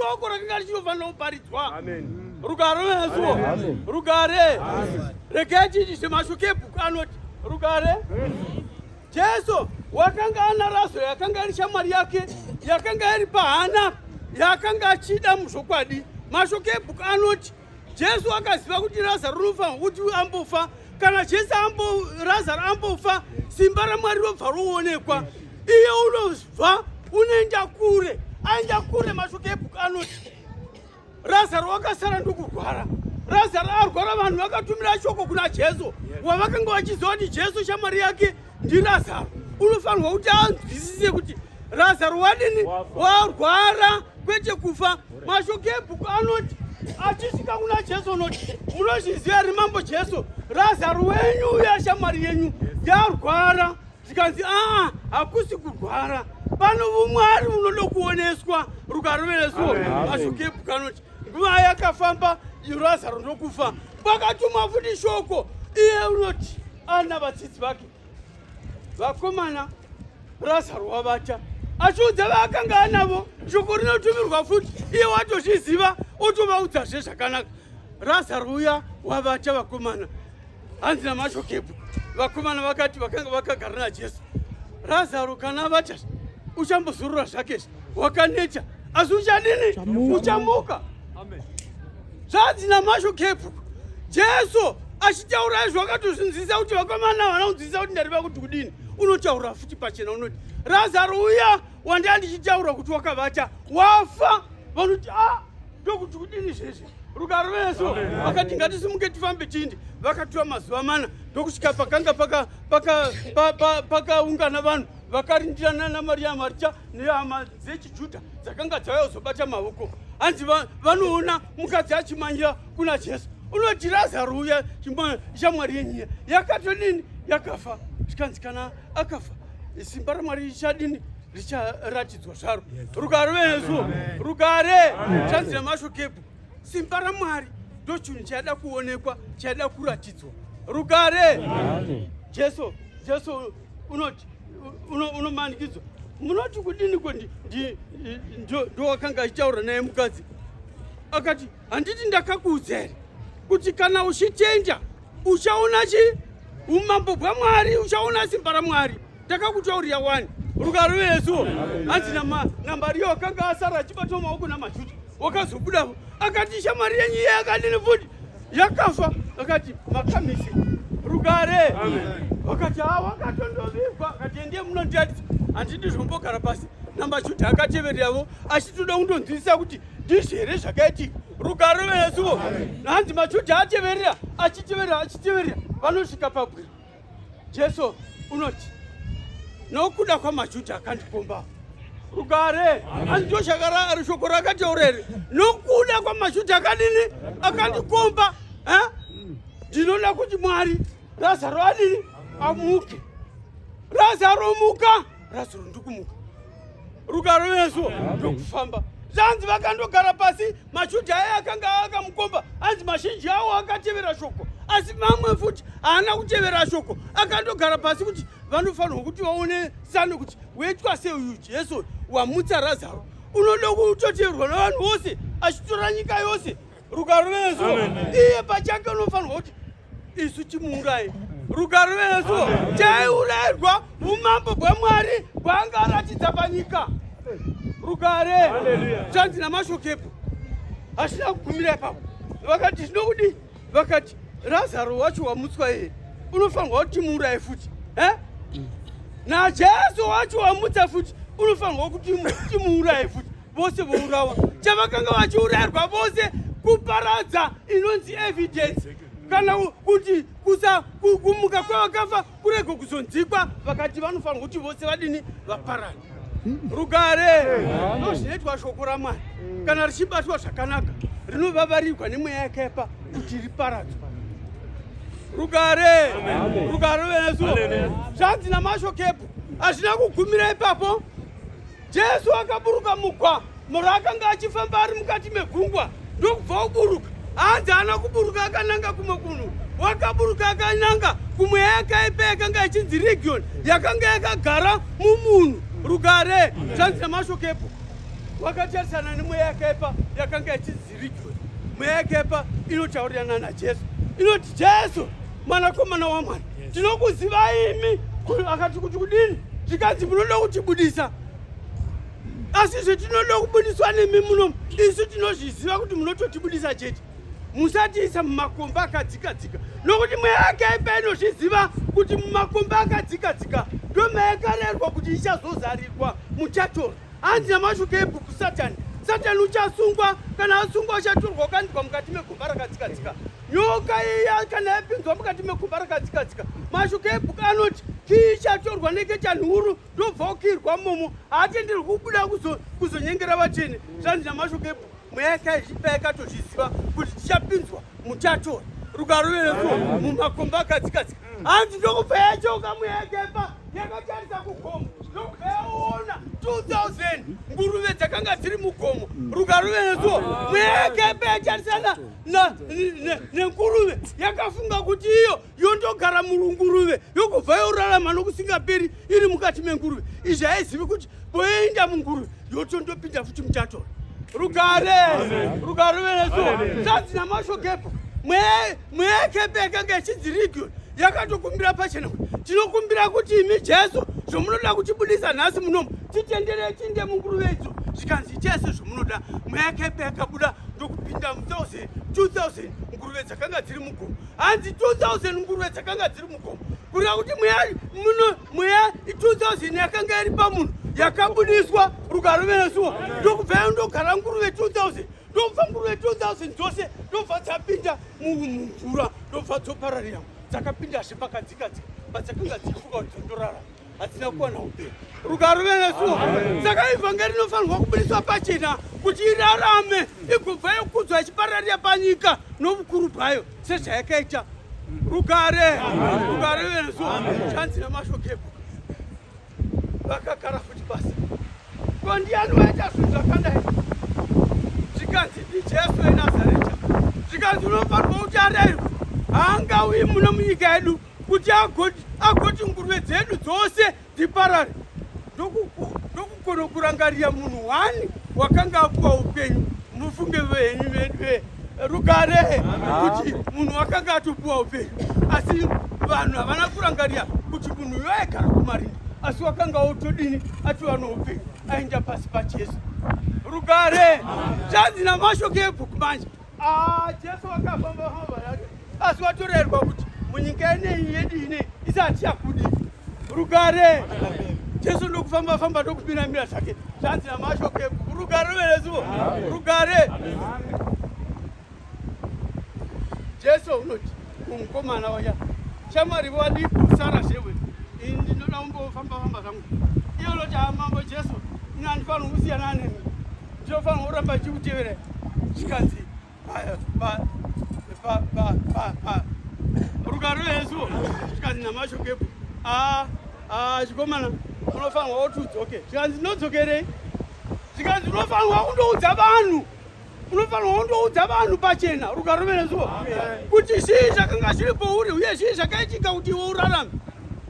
shoko rakanga richinofanira kuparidzwa amen rugare unazuwo rugare regai chiitise mashoko ebhuku anoti rugare jesu wakanga ana razaro yakanga iri shamwari yake yakanga iri pahana yakanga achida muzvokwadi mashoko ebhuku anoti Jesu akaziva kuti Lazaro unofanirwa kuti ambofa. Kana Jesu ambo Lazaro ambofa, simba raMwari robva roonekwa. Iye unobva unoenda kure, aenda kure. Mashoko ebhuku anoti Lazaro wakasara ndokurwara. Lazaro arwara, vanhu vakatumira shoko kuna Jesu, wavakanga vachiziva kuti Jesu shamwari yake ndiLazaro. Unofanirwa kuti anzwisise kuti Razaro wadini warwara kwete kufa. Mashoko ebhuku anoti achisvika kuna Jesu unoti munozviziva here mambo Jesu Razaro wenyu uya shamwari yenyu yarwara zvikanzi aa hakusi kurwara pano vumwari unoda kuoneswa rukarovereso mashoko ebhuku anoti nguva yakafamba Razaro ndokufa kwakatumwa futi shoko iye unoti ana vadzidzi vake vakomana brazar wavata achiudza vaakanga anavo shoko rinotumirwa futi iye watozviziva otovaudzazve zvakanaka razar uya wavata vakomana hanzi namashokepo vakomana vakati vakanga vakagara najesu razaro kana avata uchambozorora zvake wakaneta asi uchadini uchamuka zvanzi namasho kepu jesu achitaura izvo akatozvinzwisisa kuti vakomana havana kunzwisisa kuti ndari vakuti kudini unotaura futi pachena unoti razaro uya wandaa ndichitaura kuti wakavata wafa vanoti a ah, ndokuti kudini zvese rugaro veso vakati ngatisimuke tifambe tindi vakatura mazuva mana ndokusvika pakanga pakaungana vanhu vakarindirana naMaria Marita nehama dzechiJudha dzakanga dzauya kuzobata maoko. Hanzi vanoona mukadzi achimanyira kuna Jesu. Unoti Razaro uya shamwari yenyu yakatodini yakafa zvikanzi kana akafa simba raMwari richadini richaratidzwa zvaro. Rugare venesu, rugare chanzi nemashokebhu. Simba raMwari ndochunhu chaida kuonekwa, chaida kuratidzwa. Rugare! Jesu, Jesu unoti unomanikidzwa munoti kudini ko ndowakanga achitaura naye mukadzi akati handiti ndakakuudza here kuti kana uchitenda uchaona chi umambo bwamwari uchaona simba ramwari takakutaurira wani rugaro yesu hanzi namari yo akanga asara achibatwa maoko namajuda wakazobuda akati shamari yenyu iye akadini futi yakafa akati makamisi rugare wakati ha wakatondovigwa akati endiye munondiadisa handidi zvombogara pasi namajuda akatevereravo achitoda kundonzwisisa kuti ndizvi here zvakaitika rugare veyesuvo hanzi majuda ateverera achiteverera achiteverera vanosvika pabwiro Jesu unoti nokuda kwamaJudha akandikomba rugare andito shakara shoko rakataura iri nokuda kwamaJudha akadini akandikomba eh? ndinoda kuti Mwari Lazaro adini amuke Lazaro muka razuro ndikumuka rugaro yesu ndokufamba zvanzi vakandogara pasi mashudhi aya akanga akamukomba anzi mazhinji awo akatevera shoko asi mamwe futi haana kutevera shoko akandogara pasi kuti vanofanirwa kuti vaone sano kuti wetwa sei uyu jesu wamutsa razaro unoda kutoteverwa navanhu vose achitora nyika yose rugare rwesu iye pachake unofanirwa kuti isu timuurayi rugare rwesu chaiurayirwa umambo bwamwari bwanga aratidza panyika rugare zvanzi namashokepo hazvina kugumira ipapo vakati zvinokudii vakati razaro wacho wamutswa iye unofanirwa kuti timuuraye futi e najesu wacho wamutsa futi unofanirwa kuti timuuraye futi vose vourawa chavakanga vachiurayirwa vose kuparadza inonzi evidence kana kuti kusa kumuka kwevakafa kurego kuzonzikwa vakati vanofanirwa kuti vose vadini vaparana rugare ndo zvinoitwa shoko ramwari kana richibatwa zvakanaka rinovavarigwa nemweya yakepa kuti riparadzwa rugare rugare venesu zvanzi namashokepo hazvina kugumira ipapo Jesu akaburuka mugwa moro akanga achifamba ari mukati megungwa ndokubva oburuka hanzi haana kuburuka akananga kumwe kunhu wakaburuka akananga kumwe yakaipa yakanga ichinzi region yakanga yakagara mumunhu rugare zvanzi nemashoko epo wakatarisana nemweya yakaipa yakanga ichinzi Spiritual. Mweya yakepa inotaurirana naJesu. Inoti Jesu mwanakomana waMwari. Tinokuziva imi akati kuti kudini? Zvikanzi munoda kutibudisa. Asi izvo tinoda kubudiswa nemi muno. Isu tinozviziva kuti munototibudisa chete. Musatiisa mumakomba akadzika dzika. Nokuti mweya yakepa inozviziva kuti mumakomba akadzika dzika ndomayakarerwa kuti ichazozarirwa muchatora. Hanzi namashuka ebhuku Satani. Satani uchasungwa, kana asungwa uchatorwa ukandikwa mukati megomba rakadzikadzika. Nyoka iya kana yapinzwa mukati megomba rakadzikadzika, mashuka ebhuku anoti chii ichatorwa neketani huru ndobva ukirwa momo. Haatenderwi kubuda kuzonyengera vatsvene. Zvanzi namashuka ebhuku. mweya yakaipa yakatozviziva kuti tichapinzwa mutato rukarovereso mumakomba akadzikadzika hanzi ndokubva yachoka mweya yakaipa yakatarisa kugomo ndokubva yaona 2000 nguruve dzakanga dziri mugomo rukarovereso mweya yakaipa yatarisana nenguruve yakafunga kuti iyo yondogara munguruve yokubva yorarama nokusingaperi iri mukati menguruve izvi haizivi kuti poinda munguruve yotondopinda futi muchatora rugare rugare veneso zvanzi namashokepo mweekepe yakanga yechinzi region yakatokumbira pachena kuti tinokumbira kuti imi jesu zvomunoda kutibudisa nhasi munomu titenderei tiinde munguruve idzo zvikanzi chese zvomunoda mweekepe yakabuda ndokupinda mu 2000 nguruve dzakanga dziri mugomo hanzi 2000 nguruve dzakanga dziri mugomo kureva kuti mweya muno mweya 2000 yakanga iri pamunhu yakabudiswa rugaro venesuwa ndokubvayo ndogara nguruve 2000 ndobva nguruve 2000 dzose ndobva dzapinda mumvura ndobva dzopararira dzakapindazve pakadzikadzika padzakanga dzichifuka kuti dzondorara hatina kuwana upenyu rugaro venesuwo saka ivhangeri inofanirwa kubudiswa pachena kuti irarame igobva yokudzwa ichipararira panyika novukuru bwayo sezvayakaita rugare rugare venesuwo chanzi namashokepo vakagara futi pasi ko ndiyani waita zvinhu zvakadai zvikanzi ndijesu enazareta zvikanzi unofanirwa kuti arairwa haangauyi muno munyika yedu kuti agoti agoti nguruve dzedu dzose dziparare ndokugona kurangarira munhu wani wakanga akupa upenyu mufunge venyu vedu rugare kuti munhu wakanga atopiwa upenyu asi vanhu havana kurangarira kuti munhu uyo aigara kumarinda asi wakanga otodini atova noupenyu aenda pasi pajesu rugare chanzi namashoke ebhuku manje Ah, Jesu wakafamba famba yake asi watorerwa kuti munyika ineyi yedu ine isati yakudi rugare Jesu ndokufamba famba ndokupinda mira zvake zvanzi namasho ke rugare verezuvo rugare Jesu unoti Mukomana waya shamwari wadi kusara zvewe ndinoda kumbofamba famba zvangu iyo loti amambo Jesu ini andifanira kusiyana nemi ndinofanira kuramba chikutevera chikanzi rugare yesu chikanzi namashokepo aa Ah, chikomana unofanirwa kuti udzoke zvikanzi ndodzokerei zvikanzi unofanirwa kundoudza vanhu unofanirwa kundoudza vanhu pachena rugaro merezuvo kuti zvii zvakanga zviri pouri uye zvii zvakaitika kuti iwe urarame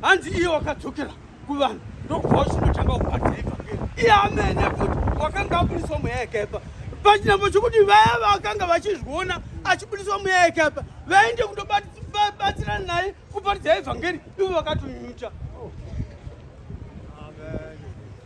hanzi iye wakadzokera kuvanhu ndokubva uchinotanga kuparidza evhangeri iye amene futi wakanga abudiswa mweya yakaipa pachinambo chokuti vaya vakanga vachizviona achibudiswa mweya yakaipa vaende kundobatsirana naye kuparidza evhangeri ivo vakatonyucha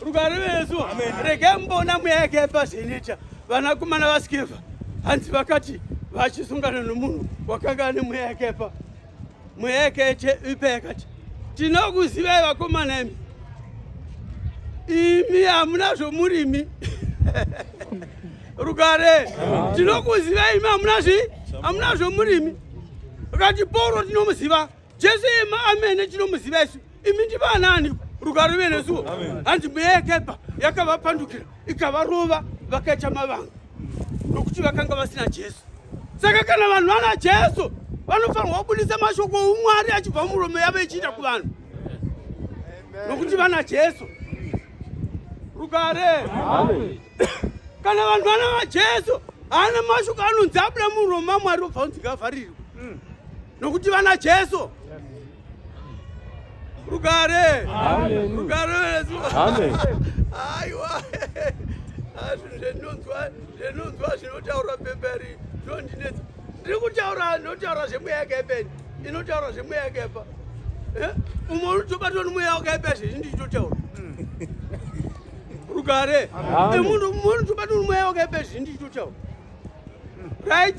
rugare vesu regai mumboona mweya yake yepazheneta vanakomana vaskeva hanzi vakati vachisungana nomunhu wakanga ane mweya yake pa mweya yake yete ipa yakati tinokuzivai vakomana imi imi hamuna zvomurimi rugare tinokuzivai imi hamuna zvi hamuna zvomurimi vakati pauro tinomuziva Jesu yema amene tinomuziva isu imi ndi vanani rugare ruve nesuwo hanzi mweya yakaipa yakavapandukira ikavarova vakaita mavanga nokuti vakanga vasina Jesu saka kana vanhu vana Jesu vanofanirwa kubudisa mashoko oumwari achibva muromo yavo ichiita kuvanhu nokuti vana Jesu rugare kana vanhu vana vajesu haana mashoko anonzi abuda muromo mamwari obva unzi ngavharirwe nokuti vana Jesu rugare rugare aiwa zvinonzwa zvinonzwa zvinotaura pemberi zvondinetsa ndiri kutaura ndinotaura zvemweya yakaipeni inotaura zvemweya yakaipa eh? umwe unotobatwa nomweya wakaipa zvizvi ndichitotaura rugare munhu unotobatwa nomweya wakaipa zvizvi ndichitotaura right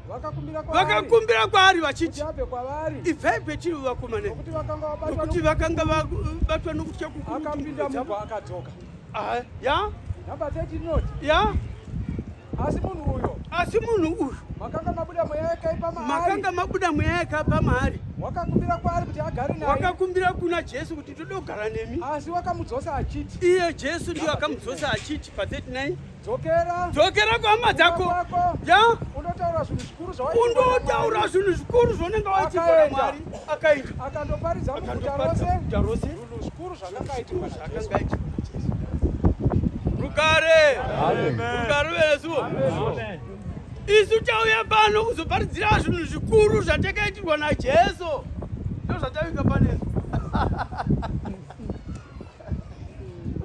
vakakumbira kwaari vachiti ibvai petiri vakomana nokuti vakanga vabatwa nokutya kukuruakadzoka ah, ya ya asi munhu uyo asi munhu uyu makanga mabuda mweya yakaipa maari makanga mabuda mweya yakaipa maari wakakumbira kwaari kuti agare naye wakakumbira kuna jesu kuti tode kugara nemi asi wakamudzosa achiti iye jesu ndiyo akamudzosa achiti pa 39 Dzokera. Dzokera kuhama dzako. Ya. Undotaura zvinhu zvikuru zvawaita. Undotaura zvinhu zvikuru zvaunenge waita kwa Mwari. Akaita. Akandoparidza muguta rose. Muguta rose. Zvinhu zvikuru zvakanga itika. Zvakanga itika. Rugare. Amen. Rugare vesu. Amen. Isu tauya pano kuzoparidzira zvinhu zvikuru zvatakaitirwa naJesu. Ndozvatavika panesu.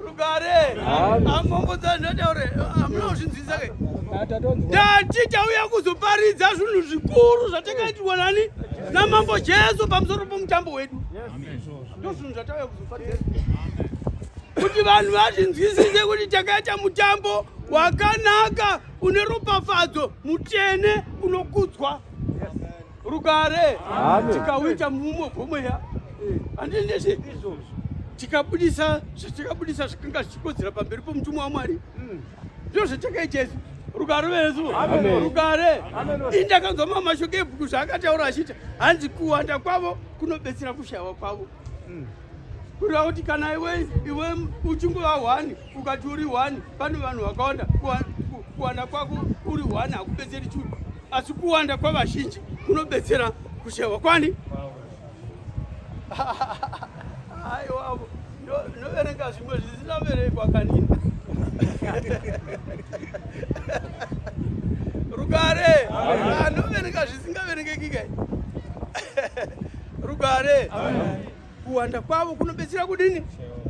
rugare amambo dzanhataure amuna kuzvinzwisa ke ndati tauya kuzoparidza zvinhu zvikuru zvatakaitirwa nani namambo jesu pamusoro pomutambo wedu ndo zvinhu zvatauya kuzoparidza kuti vanhu vazvinzwisise kuti takaita mutambo wakanaka une ropafadzo mutsvene unokudzwa rugare tikauita muumwe bwomweya handinese tikabudisa zvatakabudisa zvikanga zvichikodzera pamberi pomutumwa wamwari hmm. ndizvo zvatakaita isu rugare vesu rugare indakanzwa mamashoko ebhuku zvaakataura achiti hanzi kuwanda kwavo kunobetsera kushayiwa kwavo hmm. kureva kuti kana iwe iwe uchingova hwani ukati uri one pane vanhu vakawanda kuwanda kwako uri one hakubetseri chuu asi kuwanda kwavazhinji kunobetsera kushewa kwani aiwavo noverenga zvimwe zvisina verekwa kanini rugare anoverenga zvisingaverengekika rugare Amen. Kuwanda kwavo kunobetsera kudini?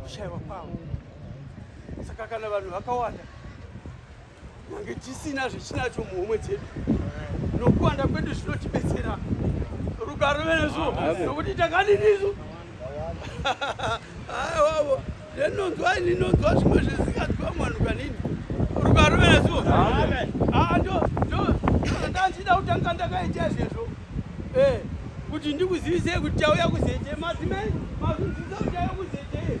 Kushaiwa kwavo. Saka kana vanhu vakawanda mange tisina zvechinacho muhomwe dzedu nokuwanda kwedu zvinotibetsera rugaro venezvo nokuti takadinisu Ndinonzwa ndinonzwa zvimwe zvisinganzwa mwanhu kanini. Rukarovera so. Amen. Ah ndo ndo ndachida kutanga ndakaita izvezvo. Eh kuti ndikuzivise kuti tauya kuzeje madzimai mazunzisa kuti tauya kuzeje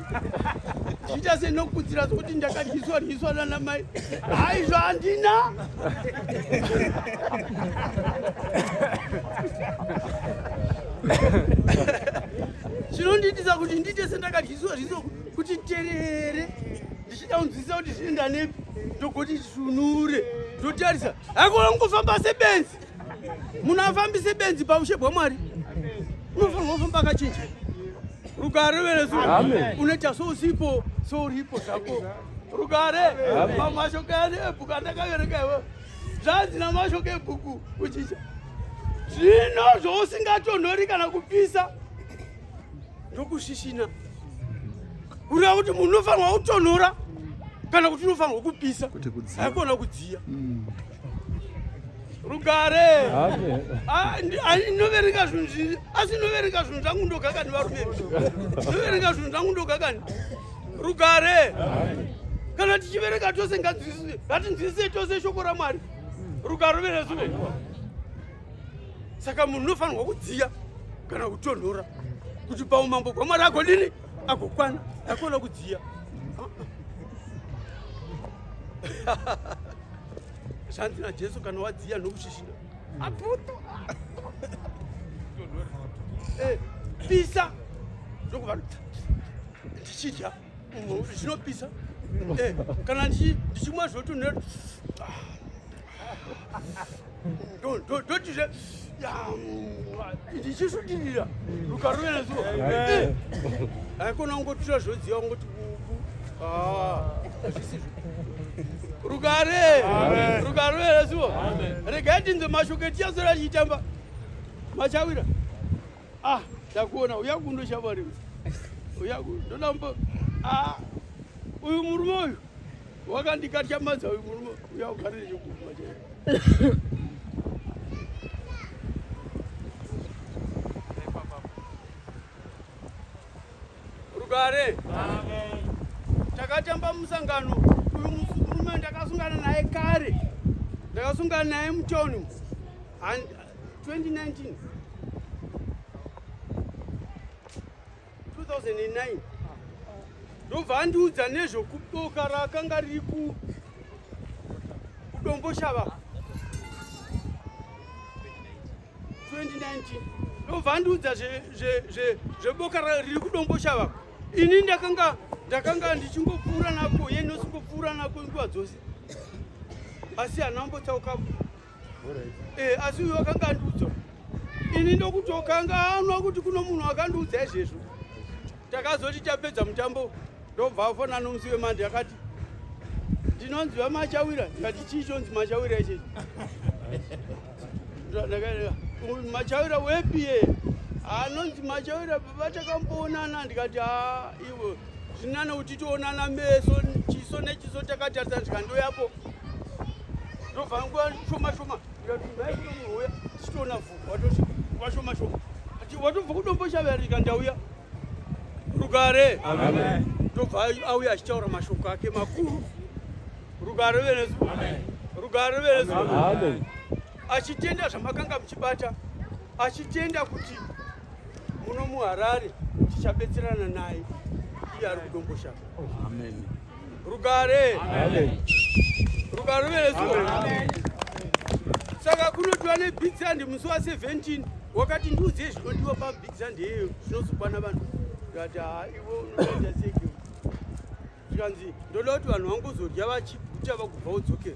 zviita senokudzira sokuti ndakadyiswa dyiswa nana mai haizvo handina zvinondiitisa kuti ndiite sendakadyiswa zviso kuti terere ndichida kunzwisisa kuti zvinoenda nepi ndogoti sunure ndotarisa haikona kungofamba sebenzi munhu afambise benzi paushe bwamwari unofanirwa kufamba akachinja rugare veresu unoita sousipo souripo zvako rugare mamashoko yani ebhuku andakaverenga iwe zvanzi namashoko ebhuku kuchinja zvino zvousingatonhori kana kupisa ndokusvisvina kureva kuti munhu unofanirwa kutonhora kana kuti unofanirwa kupisa haikona kudziya mm. rugare ah, ah, inoverenga zvinhu zvii asi inoverenga zvinhu zvangu ndogakani varume inoverenga zvinhu zvangu ndogakani rugare kana tichiverenga tose ngatinzwisise tose shoko ramwari rugare verezuvo saka munhu unofanirwa kudziya kana kutonhora kuti paumambo bwamwari agodini agokwana akona kudziya zvanzi najesu kana wadziya nokushishina apoto eh, pisa ndokuva ndichidya zvinopisa eh, kana ndichimwa zvotonera ndotizve ndichisudinira rukaruvera zuva haikona kungotira zvodziva kungoti kuku hazvisizvo rugare rukaruvera zuva regai tinze mashoko etichasora tichitamba machawira Ah, takuona uya kundo shabari. Uya kundo ndambo. Ah. Uyu murume uyu wakandikatya madza uyu murume uya ugare nechokuma chaiyo. Rugare. Takatamba musangano uyu murume ndakasungana naye kare. Ndakasungana naye mutoni. 2019 2009 ndobva andiudza nezvokuboka rakanga riri kudomboshava 2019 ndobva andiudza zveboka riri kudomboshava ini ndakanga ndakanga ndichingopfuura nako ye nosingopfuura nako nguva dzose asi hana mbotsaukapo Eh, asi uyu wakanga andiudza ini ndokutokanganwa kuti kuno munhu akandiudza izvezvo takazoti tapedza mutambo ndobva afona nomusi wemandi akati ndinonzi vamachawira ndikati chii chonzi machawira ichechi machawira wepi ye anonzi machawira baba takamboonana ndikati ha iwe zvinana kuti toonana meso chiso nechiso takatarisana zvikandoya apo ndobva nguva shoma shoma ndaiuya tichiona vhu washoma shoma watobva kudomboshavarika ndauya rugare ndobva auya achitaura mashoko ake makuru rugare venesu rugare venesu achitenda zvamakanga muchibata achitenda kuti muno muharare tichabetserana naye iye ari kudomboshaka amen rugare rugare ruveresuo saka kunotiwa nebig sand musi wa 17 wakati ndiudzei zvinodiwa pabig sand yeyo zvinozokwana vanhu tikati ha ivo unoita seke tikanzi ndoda kuti vanhu vangozodya vachiguta vakubva udzokera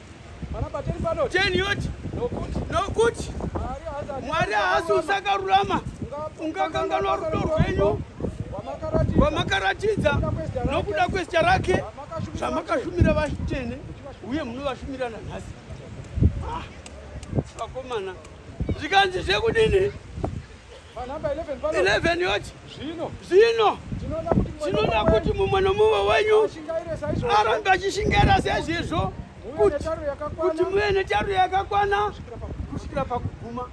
nokuti mwari haasi usakarurama ungakanganwa rudo rwenyu vamakaratidza nokuda kwezita rake zvamakashumira vachitene uye munovashumira nanhasi ah, vakomana zvikanzi zvekudini Panhamba 11 pano. 11 yoti. Zvino. Zvino. Tinoda kuti mumwe nomumwe wenyu arambe achishingaira sezvizvo kuti muve netaro yakakwana kusvikira pakuguma.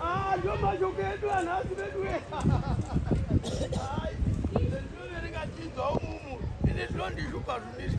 Ah, ndio mashoko edu anhasi vedu. Ndinoverenga chinzwa umumu. Ini ndinondishupa zvimiri.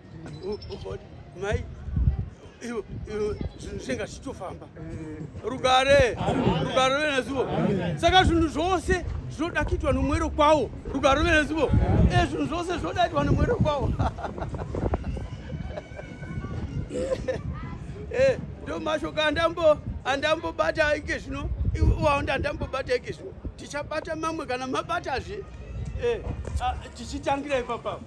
mai zvinhu zvinenge zvichitofamba rugare rugare venezivo saka zvinhu zvose zvinoda kuitwa nomwero kwawo rugare venezivo e eh, zvinhu zvose zvinoda kuitwa nomwero kwawo eh, ndo mashoko andambo andambobata ike zvino waonda andambobata ike zvino tichabata mamwe kana mabatazve eh, ah, tichitangira ipapapa